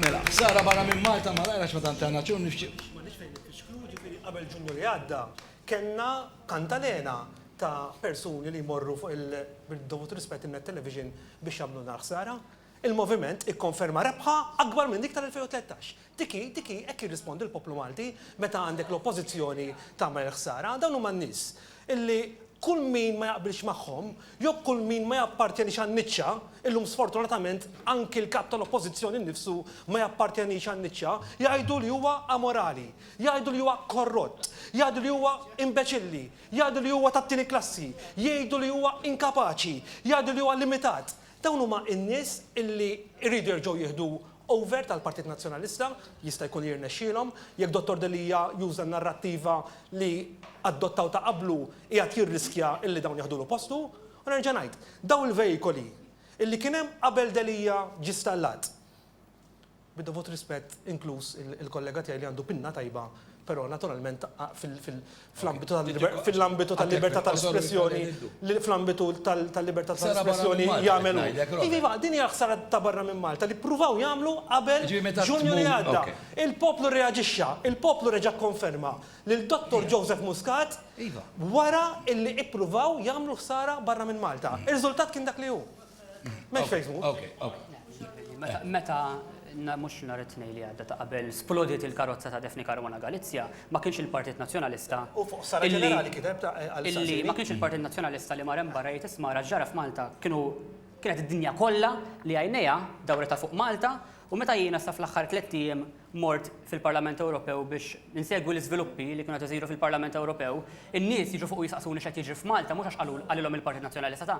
Mela, ħsara barra minn Malta ma lajrax ma tant għandna ċun nifxi. Ma nix fejn nifxklu ġifieri qabel ġunju li għadda kellna kantalena ta' persuni li jmorru fuq il-dovut rispett in-net television biex jagħmlulna l-ħsara. Il-Moviment ikkonferma rebħa akbar minn dik tal-2013. Dik hi, dik hi, hekk jirrispondi l-poplu Malti meta għandek l-Oppożizzjoni tagħmel il-ħsara. Dawn huma n-nies illi kull min ma jaqbilx magħhom, jew kull min ma jappartjenix għan-niċċa, illum sfortunatament anki l-Kap tal-Oppożizzjoni nnifsu ma jappartjenix għan-niċċa, jgħidu li huwa amorali, jgħidu li huwa korrott, jgħidu li huwa imbeċilli, jgħidu li huwa tat-tieni klassi, jgħidu li huwa inkapaċi, jgħidu li huwa limitat. Dawn huma n-nies illi jridu jerġgħu jieħdu over tal-Partit Nazzjonalista, jista' jkun li jirnexxielhom, jekk Dottor Delia juża n-narrattiva li adottaw ta' qablu qiegħed jirriskja illi dawn jaħdulu postu. U nerġa' ngħid, dawn il-veikoli illi kien hemm qabel Delia ġie stallat, Bid-dovut rispett, inkluż il-kollega tiegħi li għandu pinna tajba, però naturalment fl-ambitu tal-libertà tal-espressjoni, fl-ambitu tal-libertà tal-espressjoni jagħmel hu. Iva, din hija ħsara ta' barra minn Malta li ppruvaw jagħmlu qabel Ġunju li għadda. Il-poplu rreaġixxa, il-poplu reġa' kkonferma lil Dottor Joseph Muscat wara li ppruvaw jagħmlu ħsara barra minn Malta. Ir-riżultat kien dak li hu. Mex fejsmu. Ok, ok. Meta mux nar it-tnej li għadda ta' qabel splodiet il-karozza ta' Defni Karwana Galizja, ma kienx il-Partit Nazjonalista. U fuq sara ġenerali kiteb ta' Illi ma kienx il-Partit Nazjonalista li marem barra jgħid isma' raġġara f'Malta kienu kienet id-dinja kollha li għajnejha dawrita fuq Malta u meta jiena sa fl-aħħar tliet ijiem mort fil-Parlament Ewropew biex insegwi l-iżviluppi li kienu qed isiru fil-Parlament Ewropew, in-nies jiġu fuq jisaqsuni x'qed jiġri f'Malta mhux għax qalilhom il-Partit Nazzjonalista ta'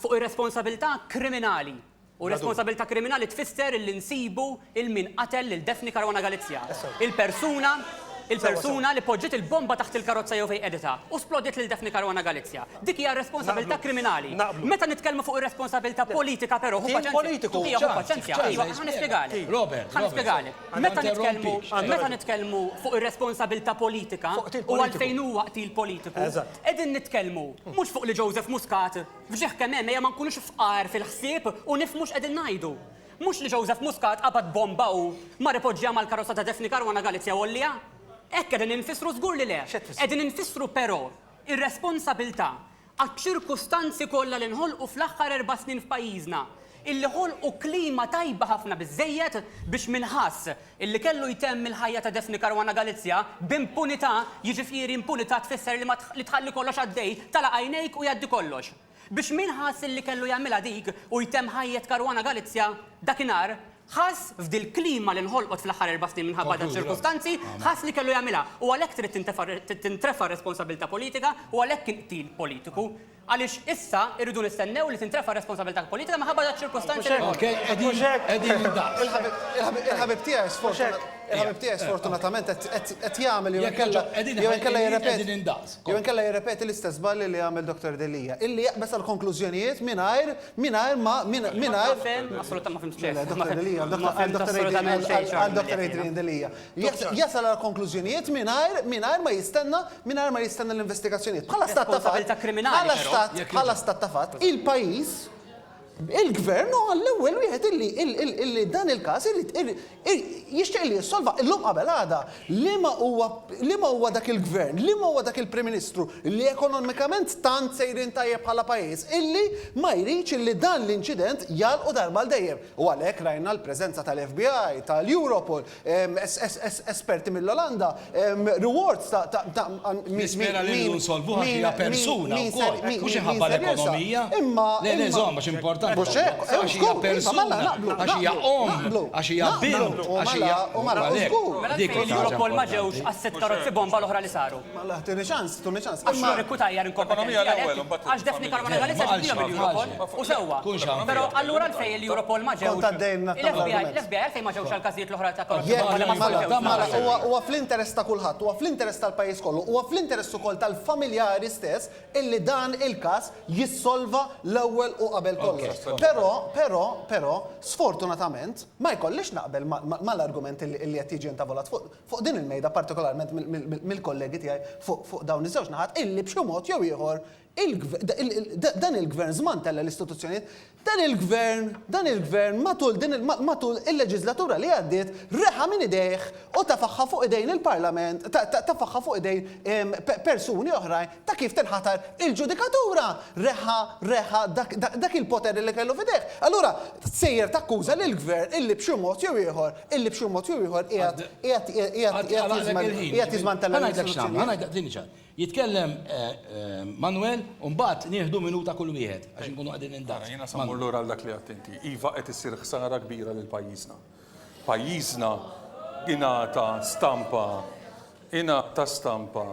Fuq ir-responsabilità kriminali. U responsabilità kriminali tfisser li nsibu 'l min qatel lil Daphne Caruana Galizia. Il-persuna, il-persuna li poġġiet il-bomba taħt il-karozza jew fejn qegħditha u splodiet lil Daphne Caruana Galizia. Dik hija r-responsabilità kriminali. Meta nitkellmu fuq ir-responsabilità politika però, ħu paċenzja, Tobia, ħu paċenzja, iva, ħa nispjegalek. Ħa nispjegalek. Meta nitkellmu, meta nitkellmu fuq ir-responsabilità politika u għalfejn huwa qtil politiku, Qegħdin nitkellmu mhux fuq li Joseph Muscat f'ġieħ kemm hemm ejja ma nkunux fqar fil-ħsieb u nifhmu x'qegħdin ngħidu. Mhux li Joseph Muscat qabad bomba u mar ipoġġiha mal-karozza ta' Daphne Caruana Galizia Għolja. Hekk qegħdin infissru żgur li le. Qegħdin infissru però ir-responsabilità għaċ-ċirkustanzi kollha li nħolqu fl-aħħar erba' snin f'pajjiżna, illi ħolqu klima tajba ħafna biżżejjed biex min ħass illi kellu jtemm il-ħajja ta' Daphne Caruana Galizia b'impunità, jiġifieri impunità tfisser li ma li tħalli kollox għaddej, tagħlaq għajnejk u jgħaddi kollox. Biex min ħass illi kellu jagħmilha dik u jtemm ħajjet Caruana Galizia dakinhar, ħass, f'dil-klima li nħolqot fl-aħħar erba' snin minħabba daċ-ċirkustanzi, ħass li kellu jagħmilha u għalhekk trid tintrefa' r-responsabbiltà politika u għalhekk kien qtil politiku. Għaliex issa irridu nistennew li tintrefa' r-responsabilità politika minħabba daċ-ċirkustanzi li nħolqu? Il-ħabib tiegħi sfortunatament qed jagħmel jew inkella jirrepeti l-istess żbalji li għamel Dottor Delia, illi jaqbeż għall-konklużjonijiet mingħajr ma mingħajr. Assolutament ma fhimt xejn. Għal Dottor Adrian Delia. jasal għal konklużjonijiet mingħajr mingħajr ma jistenna mingħajr ma jistenna l-investigazzjonijiet. Bħala stat ta' fatt, Responsabilità kriminali, bħala però. stat Jekk bħala jogħġbok. stat ta' fatt, il-pajjiż il-gvern huwa l-ewwel wieħed illi illi illi illi dan il-każ irid irid ir- jixtieq li jissolva illum qabel għada. Liema huwa liema huwa dak il-gvern, liema huwa dak il-Prim Ministru li ekonomikament tant sejrin tajjeb bħala pajjiż illi ma jridx illi dan l-inċident jagħlqu darba għal dejjem. U għalhekk rajna l-preżenza tal-FBI, tal-Europol, esperti mill-Olanda, rewards ta' ta' ta' Nispera li rridu nsolvuha fiha persuna wkoll, mhux inħabba l-ekonomija. Imma Le le żomm għax importanti. Mhux hekk, għax hija persuna, għax hija omm, għax hija bint, għax hija. Mela dik il-Europol ma ġewx għas-sitt karozzi bomba l-oħra li saru? Mela, tuni ċans, tuni ċans. Għax juri kutajjar inkompetenti għalhekk, għax Daphne Caruana Galizia ġibdilhom il-Europol, u sewwa. Però allura għalfejn il-Europol ma ġewx. L-FBI għalfejn ma ġewx għall-każijiet l-oħra ta' korruzzjoni? Huwa fl-interess ta' kulħadd, huwa fl-interess tal-pajjiż kollu, huwa fl-interess ukoll tal-familjari stess illi dan il-każ jissolva l-ewwel u qabel kollox. Però, però, però, sfortunatament, ma jkollix naqbel mal-argument illi qed jiġi intavolat fuq. fuq din il-mejda, partikolarment mill-kollegi tiegħi fuq dawn iż-żewġ naħat, illi b'xi mod jew ieħor dan il-Gvern żmantella l-istituzzjonijiet, dan il-Gvern, dan il-Gvern matul il-leġiżlatura li għaddiet reħa minn idejh u tefagħha fuq idejn il-Parlament, tefagħha fuq idejn persuni oħrajn, ta' kif tinħatar il-ġudikatura, reħħa, reħħa dak, dak, dak il-poter li kellu f'idejh. Allura sejjer takkuża lill-Gvern illi b'xi mod jew ieħor, illi b'xi mod jew ieħor qiegħed, qiegħed, qiegħed, qiegħed jiżmantella l-istituzzjonijiet. Jitkellem Manwel u mbagħad nieħdu minuta kull wieħed għax inkunu qegħdin indaqsu. Jiena se mmur lura għal dak li għedt inti. Iva qed issir ħsara kbira lil pajjiżna. Pajjiżna ingħata stampa ingħata stampa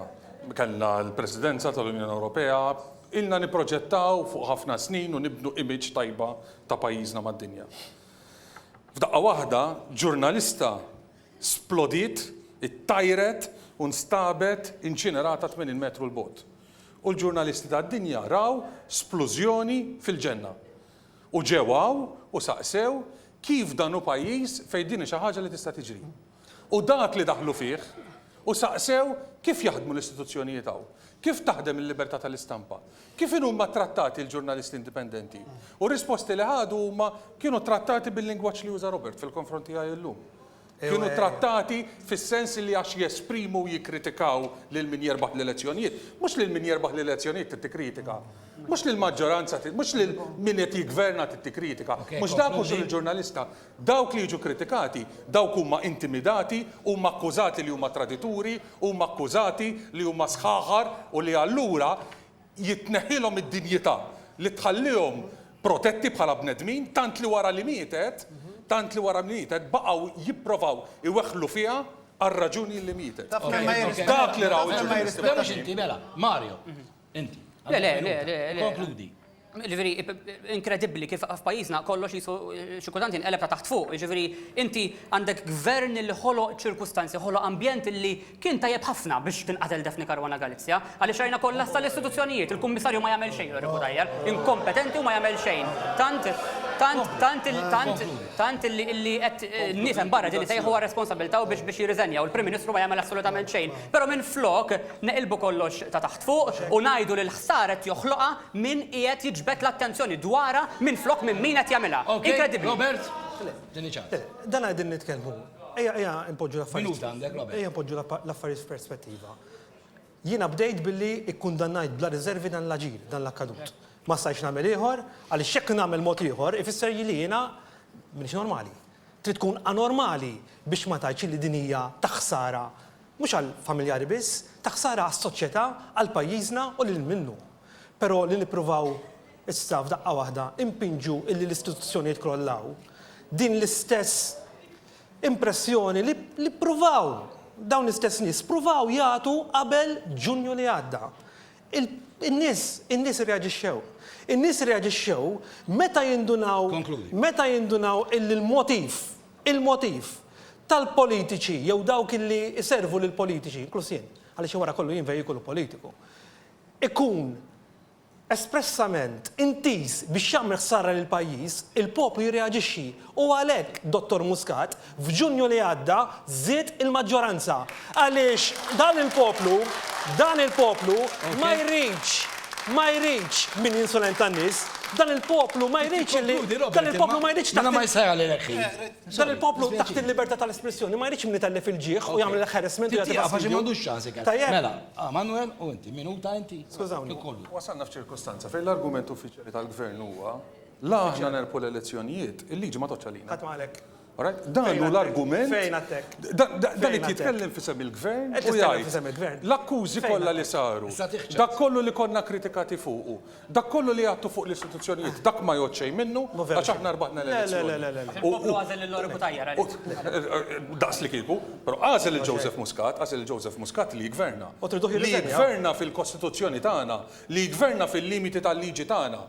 kellna l-Presidenza tal-Unjoni Ewropea, ilna nipproġettaw fuq ħafna snin u nibnu image tajba ta' pajjiżna mad-dinja. F'daqqa waħda ġurnalista splodiet, ittajret u nstabet inċinerata 80 metru 'l bogħod. U l-ġurnalisti tad-dinja raw splużjoni fil-ġenna. U ġew hawn u saqsew kif dan hu pajjiż fejn din hi xi ħaġa li tista' tiġri. U dak li daħlu fih u saqsew kif jaħdmu l-istituzzjonijiet hawn, kif taħdem il-libertà tal-istampa, kif inhuma ttrattati l-ġurnalisti indipendenti. U r-risposti li ħadu huma kienu ttrattati bil-lingwaġġ li uża Robert fil-konfront tiegħi llum. kienu ttrattati fis-sens li għax jesprimu u jikkritikaw lil min jerbaħ l-elezzjonijiet, mhux lil min jerbaħ l-elezzjonijiet trid tikkritika. Mhux lill-maġġoranza, mhux lil min qed jiggverna trid tikkritika. Mhux dak hu xogħol il-ġurnalista. Dawk li jiġu kritikati, dawk huma intimidati, huma akkużati li huma tradituri, huma akkużati li huma sħaħar u li allura jitneħħilhom id-dinjità li tħallihom protetti bħala bnedmin, tant li wara li mietet, tant li wara li mietet, baqgħu jipprovaw iweħħlu fiha għar-raġuni li mietet. Taf min ma jirrispettax. Dak li raw il-ġurnalisti. Le mhux inti, mela, Mario, inti. Le, le, le, le, le. Konkludi. Jiġifieri, inkredibbli kif f'pajjiżna kollox qisu xi kultant jinqeleb ta' taħt fuq. Jiġifieri, inti għandek gvern li ħoloq ċirkustanzi, ħoloq ambjent li Kien tajjeb ħafna biex tinqatel Daphne Caruana Galizia, għaliex rajna kollass tal-istituzzjonijiet, il-Kummissarju ma jagħmel xejn Lori Cutajar, inkompetenti u ma jagħmel xejn. Tant, tant, tant, tant, tant illi illi qed n-nies hemm barra qegħdin isejħu għar-responsabbiltà u biex biex jirriżenja u l-Prim Ministru ma jagħmel assolutament xejn. Però minflok neqilbu kollox ta' taħt fuq u ngħidu li l-ħsara qed joħloqha min qiegħed jiġbed l-attenzjoni dwarha minflok minn min qed jagħmilha. Inkredibbli! Robert, tieni ċans. Dana qegħdin nitkellmu. Ejja, ejja npoġġu l-affarijiet. Minuta għandek, Robert. Ejja npoġġu l-affarijiet f'perspettiva. Jiena bdejt billi kkundannajt bla riżervi dan l-aġir, dan l-akkadut. Ma stajtx nagħmel ieħor, għaliex jekk nagħmel mod ieħor ifisser li jiena m'iniex normali. Trid tkun anormali biex ma tgħidx li din hija ta' ħsara mhux għall-familjari biss, ta' ħsara għas-soċjetà, għal pajjiżna u lil minnu. Però li nippruvaw Issa f'daqqa waħda impinġu illi l-istituzzjonijiet jkrollaw. Din l-istess impressjoni li li ppruvaw dawn l-istess nies ppruvaw jagħtu qabel Ġunju li għadda. Il- In-nies, in-nies irreaġixxew. In-nies irreaġixxew meta jindunaw Konkludi. meta jindunaw illi l-motiv, il-motiv tal-politiċi jew dawk illi jservu lill-politiċi, inkluż jien, għaliex jien wara kollu jien vejikolu politiku, ikun espressament intiż biex jagħmel ħsara lill-pajjiż, il-poplu jirreaġixxi u għalhekk Dottor Muscat f'Ġunju li għadda żied il-maġġoranza għaliex dan il-poplu, dan il-poplu ma jridx, ma jridx min jinsulenta n-nies, dan il-poplu ma jridx li, dan il-poplu ma jridx taħt il-, dan il-poplu taħt il-libertà tal-espressjoni ma jridx min itellef il-ġieħ u jagħmel l-harassment u jagħti fastidio. Tajjeb. Skużawni, wasalna f'ċirkustanza fejn l-argument uffiċjali tal-Gvern huwa la aħna nerbħu l-elezzjonijiet, il-liġi ma tgħoddx għalina. Qatt ma għalhekk. Dan hu l-argument. Fejn għattek? Dan qed jitkellem f'isem il-Gvern u jgħid l-akkużi kollha li saru, dak kollu li konna kritikati fuqu, dak kollu li għadtu fuq l-istituzzjonijiet, dak ma jgħodd xejn minnu għax aħna rbaħna l-elezzjoni. Daqs li kieku. Però għażel lil Joseph Muscat, għażel lil Joseph Muscat li jiggverna. U triduh jirriżenja? Li jiggverna fil-Kostituzzjoni tagħna, li jiggverna fil-limiti tal-liġi tagħna.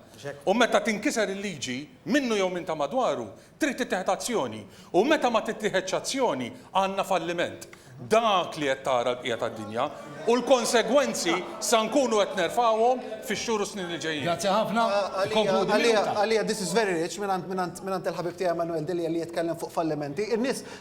U meta tinkiser il-liġi, minnu jew minn ta' madwaru, trid tittieħed azzjoni. U meta ma tittieħedx azzjoni, għandna falliment. Dak li qed tara l-bqija tad-dinja. U l-konsegwenzi sa nkunu qed nerfgħuhom fix-xhur u s-snin li ġejjin. Grazzi ħafna. Ikkonkludi Għalija, minuta. għalija, this is very rich mingħand mingħand mingħand il-ħabib tiegħi Emanuel Delia li jitkellem fuq fallimenti. In-nies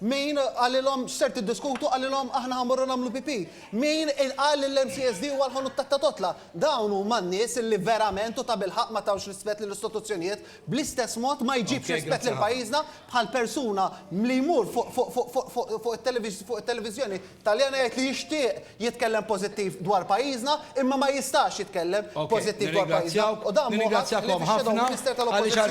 Min qalilhom x'ser tiddiskutu? Qalilhom aħna ħa mmorru nagħmlu pipì. Min qal li l-MCSD huwa l-ħanut tat-tatotla? Dawn huma n-nies li verament u tabilħaqq ma tawx rispett lill-istituzzjonijiet. Bl-istess mod ma jġibx rispett lil pajjiżna bħal persuna li jmur fuq it-televiżjoni Taljan għid li jixtieq jitkellem pożittiv dwar pajjiżna imma ma jistax jitkellem pożittiv dwar pajjiżna u dan mhu ħadd ħlief ix-Shadow Minister tal-Oppożizzjoni.